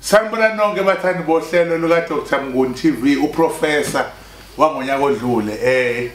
sanibona nonke bathandi bohlelo lukadr mnguni tv uprofesa wangonyaka odlule um eh,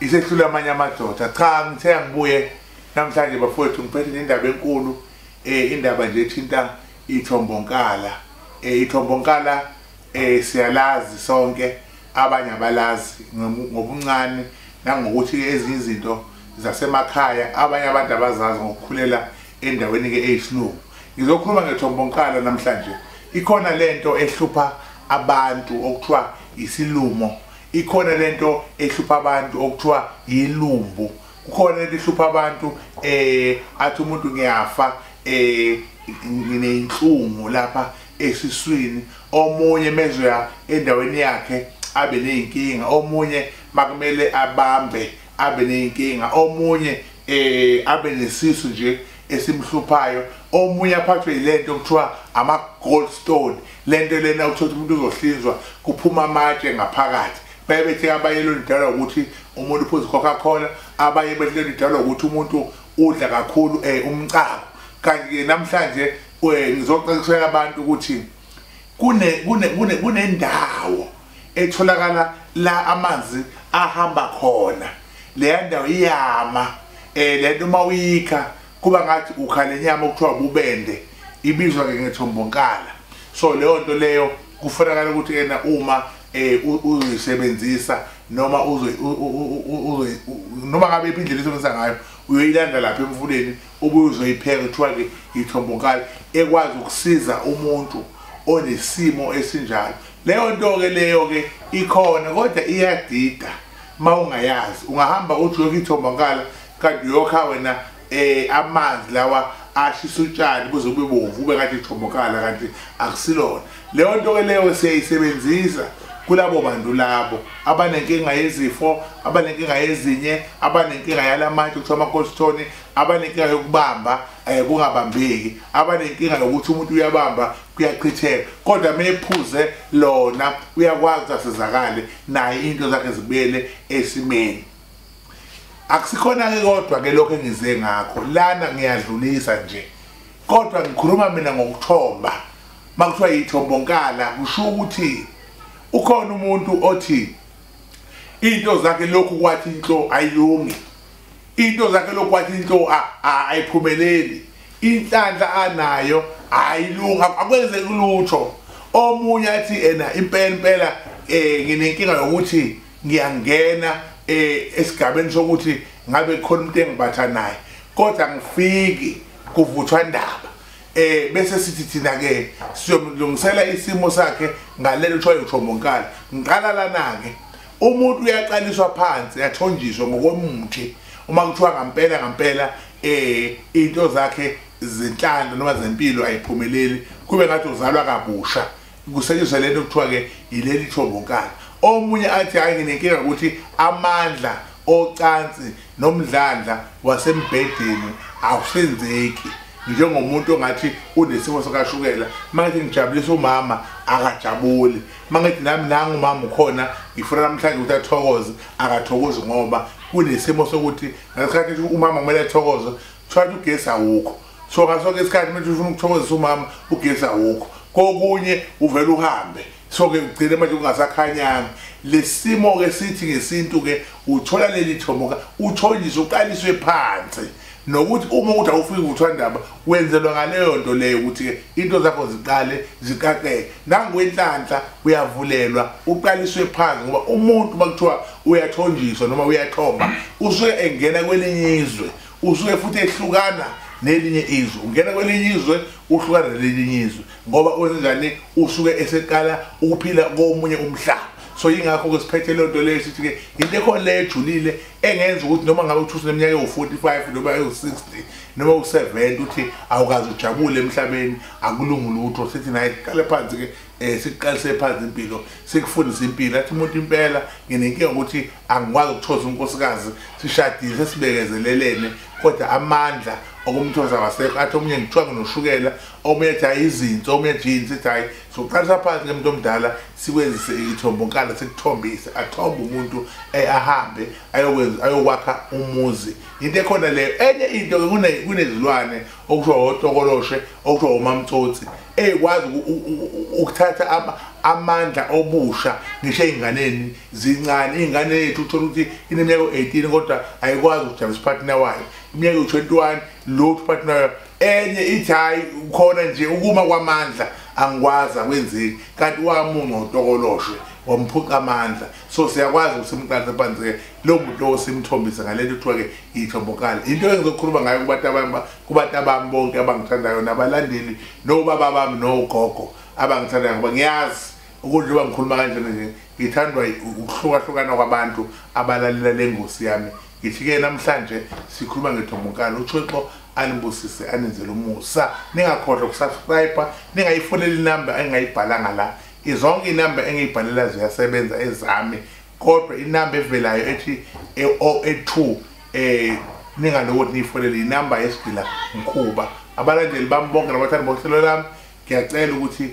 isehlule amanye amadoda cha ngithe angibuye namhlanje bafowethu ngiphethe nendaba enkulu um indaba nje ethinta ithombonkalaa um eh, ithombonkalaa um siyalazi sonke abanye abalazi ngobuncane nangokuthi ezinye izinto zasemakhaya abanye abantu abazazi ngokukhulela endaweni-ke eyisilungu ngizokhuluma ngethombonkalo namhlanje ikhona le nto ehlupha abantu okuthiwa isilumo ikhona le nto ehlupha abantu okuthiwa yilumbu kukhona into ihlupha abantu eh athi umuntu ngiyafa eh ngineyinhlungu lapha esiswini omunye mezoya endaweni yakhe abe ney'nkinga omunye makumele abambe abe ney'nkinga omunye eh abe nesisu nje esimhluphayo omunye aphathwe yilento kuthiwa ama gold stone lento lena uthola umuntu uzohlinzwa kuphuma amatshe ngaphakathi baye bethe abanye lento idalwa ukuthi umuntu uphuza coca cola abanye bethe lento idalwa ukuthi umuntu udla kakhulu eh umcako kanti ke namhlanje we ngizoqeqeshela abantu ukuthi kune kune kune kunendawo etholakala la amanzi ahamba khona leya ndawo iyama eh lento uma uyikha kuba ngathi ukhale nyama okuthiwa bubende ibizwa ke ngethombonkala so leyo nto leyo kufanakala ukuthi yena uma eh uzisebenzisa noma uzoy noma ngabe iphindlela isebenzisa ngayo uyoyilanda lapha emfuleni ubuye uzoyipheka kuthiwa-ke yithombokali ekwazi ukusiza umuntu onesimo esinjalo leyo nto-ke leyo-ke ikhona kodwa iyadida uma ungayazi ungahamba uthi uyokha ithombokala kanti uyokha wena um amanzi lawa ashisa utshani buze bube bomvu ube ngathi ithombokala kanti akusilona Leyo nto ke leyo siyayisebenzisa kulabo bantu labo abanenkinga yezifo abanenkinga yezinye abanenkinga yalamatshe kuthiwa amakosithoni abanenkinga yokubamba um kungabambeki abanenkinga yokuthi umuntu uyabamba kuyachitheka kodwa uma ephuze lona uyakwazi ukuthi asizakale naye into zakhe zibuyele esimeni akusikhona-ke kodwa-ke lokho engize ngakho lana ngiyadlulisa nje kodwa ngikhuluma mina ngokuthomba makuthiwa yithombonkala kusho ukuthi ukhona umuntu othi into zakhe lokhu kwathi inhlo ayilungi into zakhe lokhu kwathi inhlo ayiphumeleli inhlanhla anayo ayilungi akwenze kulutho omunye athi ena impela impela eh nginenkinga yokuthi ngiyangena eh esigabeni sokuthi ngabe khona umuntu engibatha naye kodwa ngifiki kuvuthwa ndaba eh bese sithi thina ke siyomlungisela isimo sakhe ngalelo kuthiwa uThomonkala ngiqala lana ke umuntu uyaqaliswa phansi yathonjiswa ngokomuthi uma kuthiwa ngampela ngampela eh into zakhe zinhlanda noma zempilo ayiphumeleli kube ngathi uzalwa kabusha kusetshenziswa lento kuthiwa-ke yileli thobonkana omunye athi hhayi nginenkinga ukuthi amandla ocansi nomdlandla wasembhedeni awusenzeki njengomuntu ongathi unesimo sakashukela mangithi ngijabulisa umama akajabuli mangithi nami nangu umama ukhona ngifuna namhlanje ukuthi athokoze akathokozi ngoba kunesimo sokuthi ngesikhathi umama kumele athokoze kuthiwa ugesi awukho so ngasoke isikhathi manje ufuna ukuthokozisa umama ugesi awukho kokunye uvele uhambe so-ke ugcine manje kungasakhanyanga lesimo-ke sithi ngesintu-ke uthola leli thomoka uthonjiswe uqaliswe phansi nokuthi uma ukuthi awufiki kuthwandaba wenzelwa ngaleyo nto leyo ukuthi-ke into zakho ziqale ziqaqeke nangokwenhlanhla uyavulelwa uqaliswe phansi ngoba umuntu uma kuthiwa uyathonjiswa noma uyathomba usuke engena kwelinye izwe usuke futhi ehlukana nelinye izwe ungena kwelinye izwe uhlukana nelinye izwe ngoba kwenzenjani usuke eseqala ukuphila komunye umhlaba so yingakho ke siphethe lento leyo sithi ke into ekhona le ejulile engenza ukuthi noma ngabe uthusa neminyaka ewu-45 noma ewu-60 noma u-70 uthi awukazi ujabule emhlabeni akulungi lutho sithi naye qale phansi ke eh sikuqalise phansi impilo sikufundisa impilo athi umuntu impela nginenkinga ukuthi angikwazi ukuthoza unkosikazi sishadile sesibekezelelene kodwa amandla okumthoza wasekho athi omunye ngithiwa nginoshukela omunye athi hayi izinto omunye athi yini sithi hayi sokuqalisa phansi ke muntu omdala sikwenzise ithombo nkala sikuthombise athombe umuntu eh, ahambe ayokwenza ayokwakha umuzi into ekhona leyo enye into kunezilwane okusho otokoloshe okusho umamtsotsi ekwazi ukuthatha amandla obusha ngisho ey'nganeni zincane iy'ngane yethu uthole ukuthi ineminyaka u-18 kodwa ayikwazi ukujabisa uphathina wayo iminyaka u-21 lothu uphathina wayo enye ithi hhayi khona nje ukuma kwamandla angikwazi akwenzeki kanti wamunca utokoloshwe wamphuca amandla so siyakwazi ukuthi simqanse phansi-ke lowo muntu lowo simthombise ngalento kuthiwa-ke iyithombokala into engizokhuluma ngayo kubantu abanye kubata bami bonke abangithandayo nabalandeli nobaba bami nogogo abangithandayo ngoba ngiyazi ukudla uba ngikhuluma kanjena nje ngithandwa ukuhlukahlukana kwabantu abalalela le ngosi yami ngithi-ke namhlanje sikhuluma ngethombonkalo uthixo anibusise anenzele umusa ningakhohlwa ukusubscribe ningayifoneli inamba engingayibhalanga la izonke inamba engiyibhalela ziyasebenza ezami kodwa inamba evelayo ethi e-082 um eh, ningaloku ukuthi niyifonele inamba yesigila mkhuba abalandeli bami bonke nabathandi bohlelo lami ngiyacela ukuthi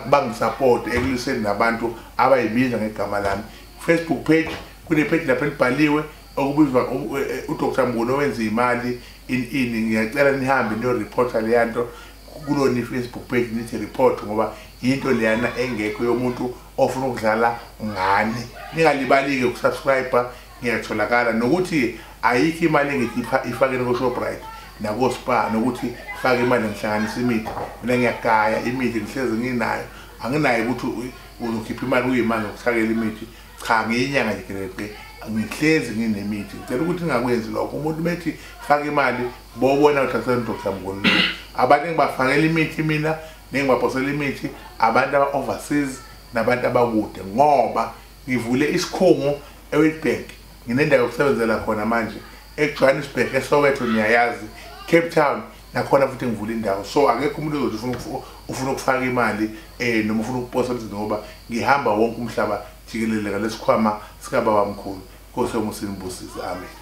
bangisapoti ekuliseni nabantu abayibiza ngegama lami facebook page kunepheji lapho elibhaliwe okubizwa e, e, udr mbuni owenza imali in ini ngiyacela nihambe niyoreporta leya nto kulona i-facebook page nithi report ngoba yinto leyana engekho yomuntu ofuna ukudlala ngani ningalibalike ukusubscribe ngiyatholakala nokuthi ayikho imali engikhipha ifakeni koShoprite nakoSpar nokuthi fake imali ngihlanganisa imithi mina ngiyagaya imithi ngihlezi nginayo anginayo ukuthi uzokhipha imali uyimali ngokuthakela imithi cha ngiyinyanga nje grade ngihlezi nginemithi ngicela ukuthi ngingakwenzi lokho umuntu bethi faka imali bobona uthatha ndoda mngoni abantu engibafakela imithi mina nengibaphosela imithi abantu aba-overseas nabantu abakude ngoba ngivule isikhungo ewitbank nginendawo yokusebenzela khona manje ejohannesburg esowetho niyayazi cape town nakhona futhi ngivula indawo so akekho umuntu ozothi ufuna ukufaka imali um noma ufuna ukuposa emsini ngoba ngihamba wonke umhlaba jikeleleka lesikhwama sikababamkhulu nkosi yomusini busizi amen